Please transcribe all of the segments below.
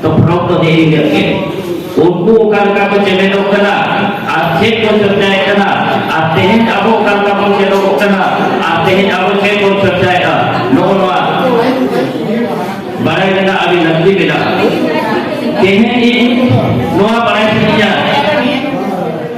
ᱛᱚ ᱯᱷᱨᱚᱢ ᱫᱚ ᱫᱮᱨᱤ ᱜᱮ ᱩᱱᱠᱩ ᱚᱠᱟ ᱞᱮᱠᱟ ᱠᱚ ᱪᱮᱢᱮᱫᱚᱜ ᱠᱟᱱᱟ ᱟᱨ ᱪᱮᱫ ᱠᱚ ᱪᱚᱨᱪᱟᱭᱮᱫ ᱠᱟᱱᱟ ᱟᱨ ᱛᱮᱦᱮᱧ ᱟᱵᱚ ᱚᱠᱟ ᱞᱮᱠᱟ ᱵᱚᱱ ᱪᱮᱫᱚᱜᱚᱜ ᱠᱟᱱᱟ ᱟᱨ ᱛᱮᱦᱮᱧ ᱟᱵᱚ ᱪᱮᱫ ᱵᱚᱱ ᱪᱚᱨᱪᱟᱭᱮᱫᱟ ᱱᱚᱜᱼᱚ ᱱᱚᱣᱟ ᱵᱟᱲᱟᱭ ᱨᱮᱱᱟᱜ ᱟᱹᱰᱤ ᱞᱟᱹᱠᱛᱤ ᱢᱮᱱᱟᱜᱼᱟ ᱛᱮᱦᱮᱧ ᱱᱚᱣᱟ ᱵᱟᱲᱟᱭ ᱥᱟᱱᱟᱧᱟ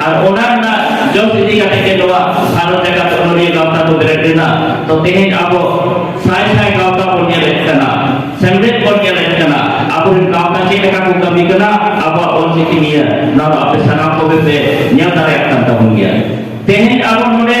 ᱟᱨ ᱚᱱᱟ ᱨᱮᱱᱟᱜ ᱡᱚᱥ ᱤᱫᱤ ᱠᱟᱛᱮ ᱜᱮ ᱱᱚᱣᱟ ᱵᱷᱟᱨᱚᱛ ᱡᱟᱠᱟᱛ ᱚᱱᱚᱞᱤᱭᱟᱹ ᱜᱟᱶᱛᱟ ᱫᱚ ᱵᱮᱨᱮᱫ ᱞᱮᱱᱟ ᱛᱚ ᱛᱮᱦᱮᱧ ᱟᱵᱚ ᱥᱟᱭ ᱥᱟᱭ ᱜᱟᱶᱛᱟ ᱵᱚᱱ ᱧᱮᱞᱮᱫ ᱠᱟᱱᱟ ᱥᱮᱢᱞᱮᱫ ᱵᱚᱱ ᱧᱮᱞᱮᱫ ᱠᱟᱱᱟ ᱟᱵᱚᱨᱮᱱ ᱜᱟᱶᱛᱟ ᱪᱮᱫ ᱞᱮᱠᱟ ᱠᱚ ᱠᱟᱹᱢᱤ ᱠᱟᱱᱟ ᱟᱵᱚᱣᱟᱜ ᱚᱞᱪᱤᱠᱤ ᱱᱤᱭᱟᱹ ᱱᱚᱣᱟ ᱫᱚ ᱟᱯᱮ ᱥᱟᱱᱟᱢ ᱠᱚᱜᱮ ᱯᱮ ᱧᱮᱞ ᱫᱟᱲᱮᱭᱟᱜ ᱠᱟᱱ ᱛᱟᱵᱚᱱ ᱜᱮᱭᱟ ᱛᱮᱦᱮᱧ ᱟᱵᱚ ᱱᱚᱰᱮ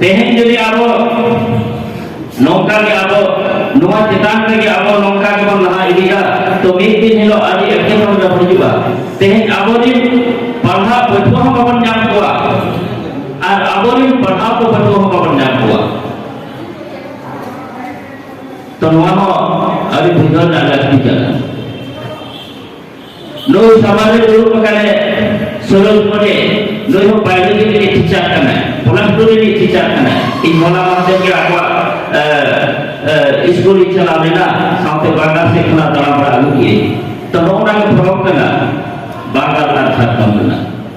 ᱛᱮᱦᱮᱧ ᱡᱩᱫᱤ ᱟᱵᱚ ᱱᱚᱝᱠᱟ ᱜᱮ ᱟᱵᱚ ᱱᱚᱣᱟ ᱪᱮᱛᱟᱱ ᱨᱮᱜᱮ ᱟᱵᱚ ᱱᱚᱝᱠᱟ ᱜᱮᱵᱚᱱ ᱞᱟᱦᱟ ᱤᱫᱤᱭᱟ ᱛᱚ ᱢᱤᱫ ᱫᱤᱱ ᱦᱤᱞᱳᱜ ᱟᱹᱰᱤ ᱮᱴᱠᱮᱴᱚᱬᱮ ᱨᱮ ᱦᱤᱡᱩᱜᱼᱟ ᱛᱮᱦᱮᱧ ᱟᱵᱚ ᱨᱤᱱ ᱯᱟᱲᱦᱟᱣ ᱯᱟᱹᱴᱷᱩᱣᱟᱹ ᱦᱚᱸ ᱵᱟᱵᱚᱱ ᱧᱟᱢ ᱠᱚᱣᱟ ᱟᱨ ᱟᱵᱚ ᱨᱤᱱ ᱯᱟᱲᱦᱟᱣ ᱠᱚ ᱯᱟᱹᱴᱷᱩᱣᱟᱹ ᱦᱚᱸ ᱵᱟᱵᱚᱱ ᱧᱟᱢ ᱠᱚᱣᱟ ᱛᱚ ᱱᱚᱣᱟ ᱦᱚᱸ ᱟᱹᱰᱤ ᱵᱩᱡᱷᱟᱹᱣ ᱨᱮᱱᱟᱜ ᱞᱟᱹᱠᱛᱤ ᱠᱟᱱᱟ ᱱᱩᱭ ᱥᱟᱢᱟᱝ ᱨᱮ ᱫᱩᱲᱩᱵ ᱟᱠᱟᱱᱟᱭ ᱥᱚᱨᱚᱞ ᱢᱚᱱᱮ ᱱᱩᱭ ᱦᱚᱸ ᱵᱟᱭᱳᱞᱚᱡᱤ ᱨᱤᱱᱤᱡ ᱴᱤᱪᱟᱨ ᱠᱟᱱᱟᱭ ᱯᱞᱟᱥ ᱴᱩ ᱨᱤᱱᱤᱡ ᱴᱤᱪᱟᱨ ᱠᱟᱱᱟᱭ ᱤᱧ ᱦᱚᱞᱟ ᱢᱟᱦᱫᱮᱨ ᱜᱮ ᱟᱠᱚᱣᱟᱜ ᱥᱠᱩᱞ ᱤᱧ ᱪᱟᱞᱟᱣ ᱞᱮᱱᱟ ᱥᱟᱶᱛᱮ ᱵᱟᱝᱞᱟ ᱥᱮᱫ ᱠᱷᱚᱱᱟᱜ ᱫᱟᱬᱟ ᱵᱟᱲᱟ ᱟᱹᱜᱩ ᱠᱮᱫᱟᱹᱧ ᱛᱚ ᱱᱚᱜᱼᱚ ᱱᱟ ᱜᱮ ᱯᱷᱚᱨᱚᱠ ᱠᱟᱱᱟ ᱵᱟᱝᱞᱟ ᱟᱨ ᱡᱷᱟᱲᱠᱷᱚᱸᱰ ᱨᱮᱱᱟᱜ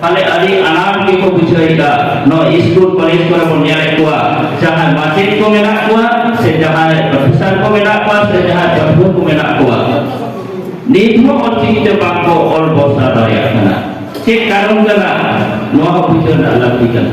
ᱛᱟᱦᱞᱮ ᱟᱹᱰᱤ ᱟᱱᱟᱴ ᱜᱮᱠᱚ ᱵᱩᱡᱷᱟᱹᱣᱮᱫᱟ ᱱᱚᱣᱟ ᱥᱠᱩᱞ ᱠᱚᱞᱮᱡᱽ ᱠᱚᱨᱮ ᱵᱚᱱ ᱧᱮᱞᱮᱫ ᱠᱚᱣᱟ ᱡᱟᱦᱟᱸᱭ ᱢᱟᱪᱮᱫ ᱠᱚ ᱢᱮᱱᱟᱜ ᱠᱚᱣᱟ ᱥᱮ ᱡᱟᱦᱟᱸᱭ ᱯᱨᱚᱯᱷᱮᱥᱚᱨ ᱠᱚ ᱢᱮᱱᱟᱜ ᱠᱚᱣᱟ ᱥᱮ ᱡᱟᱦᱟᱸᱭ ᱯᱟᱹᱴᱷᱩᱣᱟᱹ ᱠᱚ ᱢᱮᱱᱟᱜ ᱠᱚᱣᱟ ᱱᱤᱛ ᱦᱚᱸ ᱚᱞᱪᱤᱠᱤ ᱛᱮ ᱵᱟᱝᱠᱚ ᱚᱞ ᱵᱚᱨᱥᱟ ᱫᱟᱲᱮᱭᱟᱜ ᱠᱟᱱᱟ ᱪᱮᱫ ᱠᱟᱨᱚᱱ ᱠᱟᱱᱟ ᱱᱚᱣᱟ ᱦᱚᱸ ᱵᱩᱡᱷᱟᱹᱣ ᱨᱮᱱᱟᱜ ᱞᱟᱹᱠᱛᱤ ᱠᱟᱱᱟ